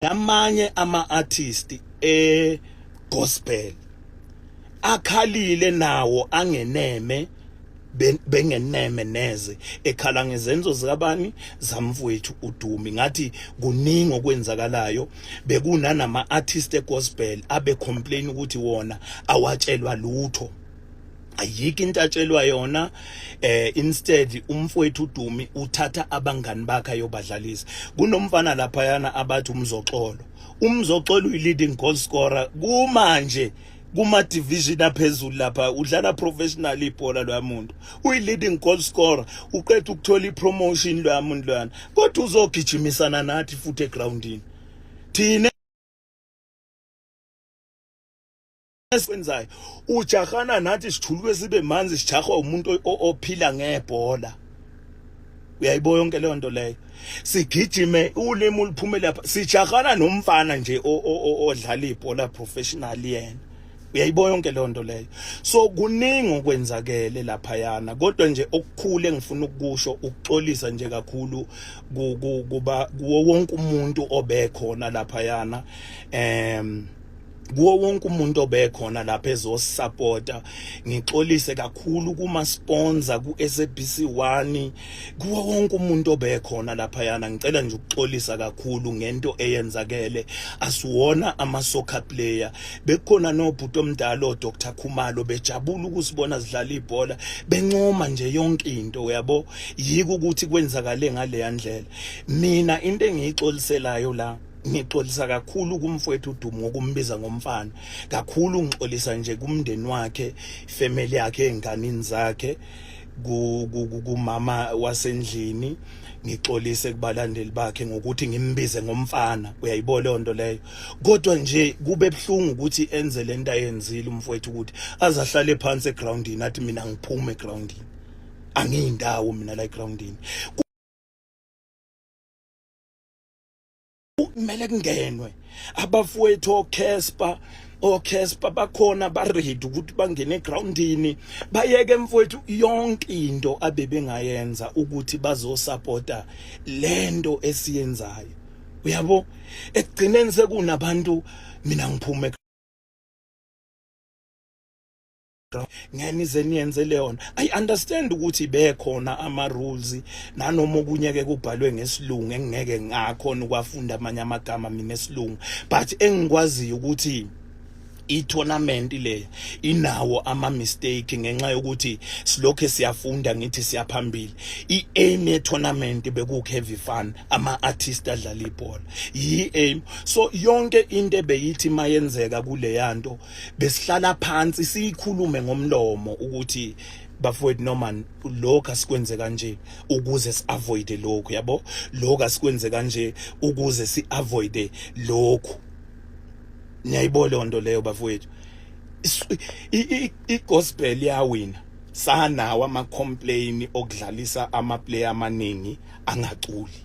namanye ama artist e gospel akhalile nawo angeneme bengeneme neze ekhala ngezenzo zikabani zamfowethu udumi ngathi kuningi okwenzakalayo bekunanama artist egospel abe complain ukuthi wona awatshelwa lutho ayikho into atshelwa yona eh instead umfowethu uDumi uthatha abangani bakhe ayobadlalisa kunomfana lapha yana abathi umzoxolo umzoxolo uyi leading goal scorer kumanje kuma division aphezulu lapha udlala professional ibhola lwamuntu uyi leading goal scorer uqeda ukuthola ipromotion lwamuntu lwana kodwa uzogijimisana nathi futhi egroundini thina esikwenzayo ujahana nathi sijuluke sibe manzi sijahwa umuntu ophila ngebhola uyayibo yonke leyo nto leyo sigijime ulimi uliphume lapha sijahana nomfana nje odlala ibhola professional yena uyayibo yonke leyo nto leyo so kuningi okwenzakele lapha yana kodwa nje okukhulu engifuna ukukusho ukuxolisa nje kakhulu kuba kuwo wonke umuntu obekhona lapha yana em um, kuwo wonke umuntu obekhona lapha ezosupporta ngixolise kakhulu kuma sponsor ku SABC 1 kuwo wonke umuntu obekhona lapha yana ngicela nje ukuxolisa kakhulu ngento eyenzakele asiwona ama soccer player bekukhona nobhuti omdala o Dr Khumalo bejabula ukusibona sidlala ibhola bencoma nje yonke into uyabo yiko ukuthi kwenzakale ngale yandlela mina into engiyixoliselayo la Ngixolisa kakhulu kumfowethu uDumo ngokumbiza ngomfana. Kakhulu ngixolisa nje kumndeni wakhe, family yakhe, enganini zakhe kumama wasendlini ngixolise kubalandeli bakhe ngokuthi ngimbize ngomfana uyayibona leyo nto leyo kodwa nje kube buhlungu ukuthi enze lento ayenzile umfowethu ukuthi azahlale phansi egroundini athi mina ngiphume egroundini angiyindawo mina la egroundini kumele kungenwe abafowethu oCasper oCasper bakhona baready ukuthi bangene egroundini bayeke mfowethu yonke into abebengayenza ukuthi bazosupporta lento esiyenzayo uyabo ekugcineni sekunabantu mina ngiphume ngeke nize niyenze leyona i understand ukuthi bekhona ama rules nanoma okunye ke kubhalwe ngesilungu engeke ngakhona ukwafunda amanye amagama mina esilungu but engikwaziyo ukuthi i-tournament leyo inawo ama-mistake ngenxa yokuthi silokhu siyafunda ngithi siyaphambili i-aim ye-tournament bekukheavy fun ama-artist adlala ibhola yi-aim so yonke into ebeyithimayenzeka kuleya nto besihlala phansi siyikhulume ngomlomo ukuthi bafowethu noma lokho asikwenze kanje ukuze siavoid lokho yabo lokho asikwenze kanje ukuze siavoid lokho niyayibona lonto leyo bafowethu i-gospel yawina sanawo ama-complain okudlalisa amaplayer amaningi angaculi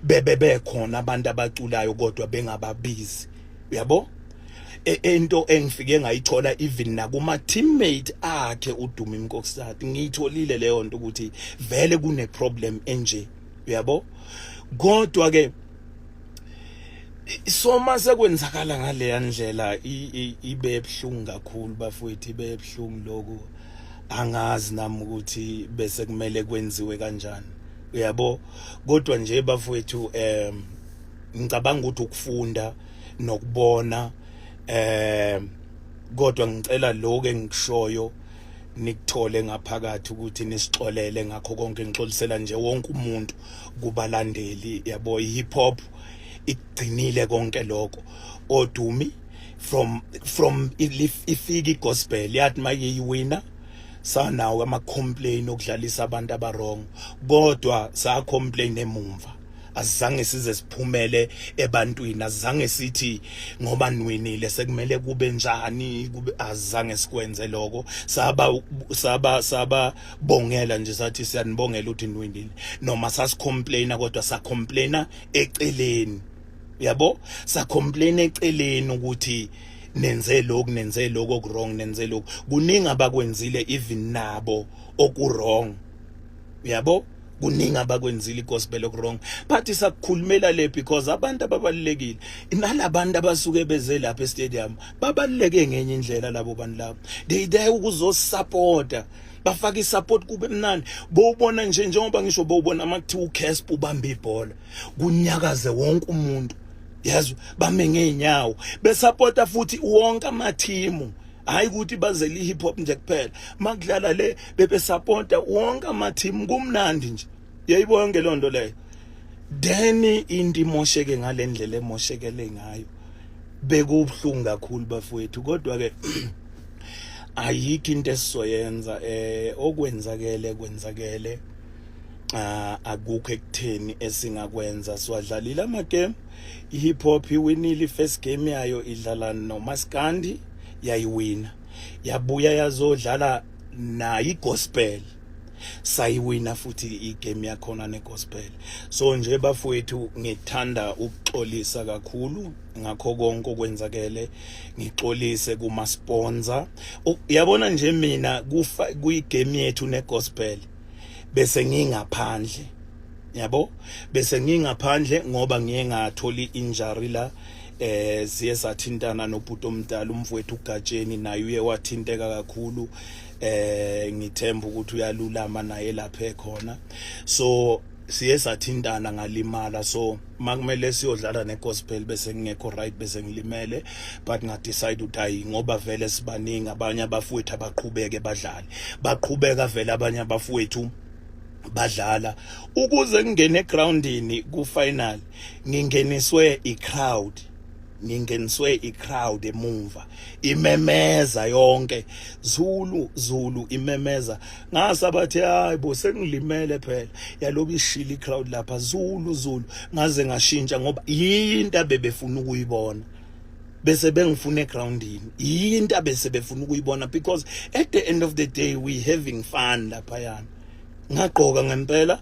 bebe bekhona abantu abaculayo kodwa bengababizi uyabo e, ento engifike ngayithola even nakuma teammate akhe uDumi Mkokstad ngiyitholile leyo nto ukuthi vele kune problem enje uyabo kodwa ke soma sekwenzakala ngaleya ndlela ibe ebhlungu kakhulu bafowethu ibe ebhlungu lokho angazi nami ukuthi bese kumele kwenziwe kanjani uyabo kodwa nje bafowethu um ngicabanga ukuthi ukufunda nokubona eh kodwa ngicela lokho engikushoyo nikuthole ngaphakathi ukuthi nisixolele ngakho konke ngixolisela nje wonke umuntu kubalandeli yabo ihip hop igcinile konke lokho odumi from from ifika igospel yathi mayiyiwina sanawo ama complain okudlalisa abantu abarong kodwa sa complain emumva azange size siphumele ebantwini azange sithi ngoba nwinile sekumele kube njani kube azange sikwenze lokho saba saba saba bongela nje sathi siyanibongela uthi nwinile noma sasicomplaina kodwa sa complaina eceleni yabo sa complaina eceleni ukuthi nenze lokhu nenze lokho okurong nenze lokhu kuningi abakwenzile even nabo okuwrong uyabo kuningi abakwenzile igospel okurong but isakukhulumela le because abantu ababalulekile nalabantu abasuke beze lapha estadium babaluleke ngenye indlela labo bantu labo they there ukuzosupporta bafaka isupport kube mnandi bowubona nje njengoba ngisho bowubona makuthiwa uCasp ubamba ibhola kunyakaze wonke umuntu yazi bame ngeenyawo besupporta futhi wonke amathimu hayi ukuthi bazele i-hip hop nje kuphela makudlala le bebesapota wonke amathimu kumnandi nje yayibo yonke loo nto leyo then into imosheke ngale ndlela emoshekele ngayo bekubuhlungu kakhulu bafowethu kodwa-ke ayikho into esizoyenza um okwenzakele kwenzakele ah, akukho ekutheni esingakwenza siwadlalile amagame i-hip hop iwinile i-first game yayo idlala nomaskandi yayiwina yabuya yazodlala nayo igospel sayiwina futhi igame yakhona negospel so nje bafowethu ngithanda ukuxolisa kakhulu ngakho konke okwenzakele ngixolise kuma sponsor uyabona nje mina kufa kuyigame yethu ne gospel bese ngingaphandle yabo bese ngingaphandle ngoba ngiye ngatholi injury la eh siye sathintana nobhuti omdala umfowethu uGatsheni naye uye wathinteka kakhulu eh ngithemba ukuthi uyalulama naye lapha ekhona so siye sathintana ngalimala so makumele siyodlala negospel bese ngingekho right bese ngilimele but ngadecide ukuthi hayi ngoba vele sibaningi abanye abafowethu abaqhubeke badlale baqhubeka vele abanye abafowethu badlala ukuze ngingene egroundini ku final ngingeniswe i crowd ngingeniswe i crowd emumva imemeza yonke Zulu Zulu imemeza ngasa bathi hayi bo sengilimele phela yaloku ishili crowd lapha zulu zulu ngaze ngashintsha ngoba yinto abebefuna ukuyibona bese bengifuna egroundini yinto abese befuna ukuyibona because at the end of the day we having fun lapha yana ngagqoka ngempela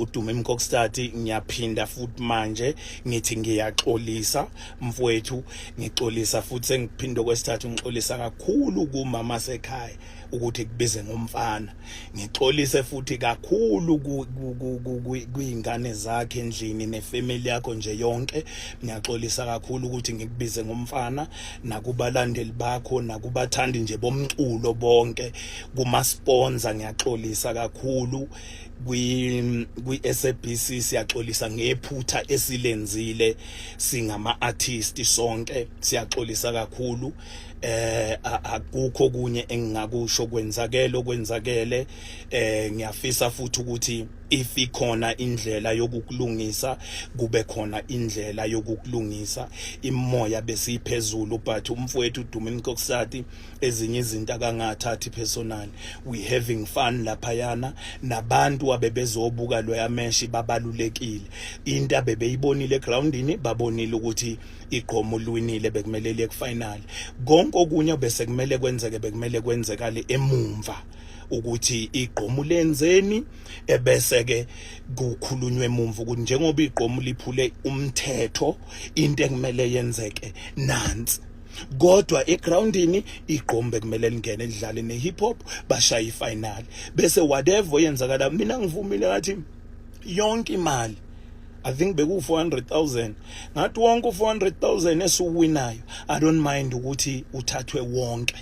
udume mkokstati ngiyaphinda futhi manje ngithi ngiyaxolisa mfowethu ngixolisa futhi sengiphinde kwesithathu ngixolisa kakhulu kumama sekhaya ukuthi kubize ngomfana ngixolise futhi kakhulu kuyingane zakhe endlini nefamily yakho nje yonke ngiyaxolisa kakhulu ukuthi ngikubize ngomfana nakubalandeli bakho nakubathandi nje bomculo bonke kuma sponsor ngiyaxolisa kakhulu kwi kwi SABC siyaxolisa ngephutha esilenzile singama artist sonke siyaxolisa kakhulu eh akukho kunye engingakusho kwenzakele okwenzakele eh ngiyafisa futhi ukuthi if ikhona indlela yokukulungisa kube khona indlela yokukulungisa imoya besiphezulu but umfowethu Dumi Mkoksati ezinye izinto akangathathi personal we having fun laphayana nabantu abebezobuka loya meshi babalulekile into abebeyibonile egroundini babonile ukuthi igqomo lwinile bekumele liye kufinal konke okunye bese kumele kwenzeke bekumele kwenzekale emumva ukuthi igqomu lenzeni ebese ke kukhulunywe emumva ukuthi njengoba igqomu liphule umthetho into ekumele yenzeke nansi kodwa egroundini igqombe kumele lingene lidlale ne-hip hop bashaye ifinali bese whatever oyenzakala mina ngivumile ngathi yonke imali I think beku-400,000 ngathi wonke u-400,000 esiwuwinayo I don't mind ukuthi uthathwe wonke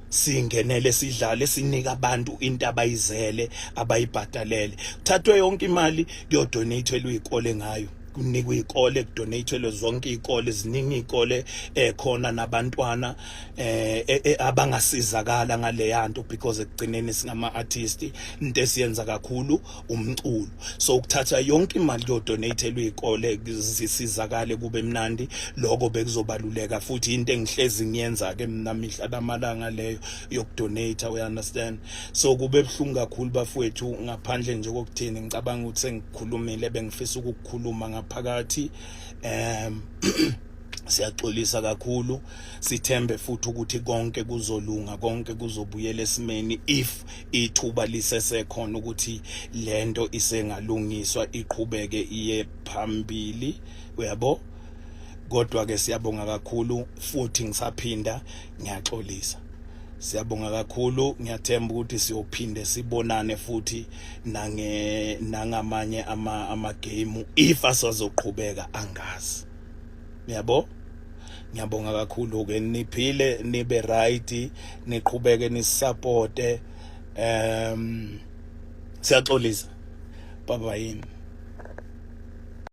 singenele sidlale sinika abantu into abayizele abayibhadalele kuthathwe yonke imali kuyodonathelwa izikole ngayo kunikwa izikole kudonathelwe zonke izikole ziningi izikole ekhona eh, nabantwana eh, eh, eh abangasizakala ngaleyanto because ekugcineni singama artist into esiyenza kakhulu umculo so ukuthatha yonke imali yodonatelwa izikole zisizakale kube mnandi lokho bekuzobaluleka futhi into engihlezi ngiyenza ke mina mihla lamalanga leyo yokudonate we understand so kube buhlungu kakhulu bafowethu ngaphandle nje kokuthini ngicabanga ukuthi sengikhulumile bengifisa ukukhuluma ngaphakathi um siyaxolisa kakhulu sithembe futhi ukuthi konke kuzolunga konke kuzobuyela esimeni if ithuba lisesekhona ukuthi lento isengalungiswa iqhubeke iye phambili uyabo kodwa ke siyabonga kakhulu futhi ngisaphinda ngiyaxolisa siyabonga kakhulu ngiyathemba ukuthi siyophinde sibonane futhi nange nangamanye ama ama game if asazoqhubeka angazi Niyabo? Ngiyabonga kakhulu ke niphile nibe right niqhubeke nisupporte um siyaxolisa baba yini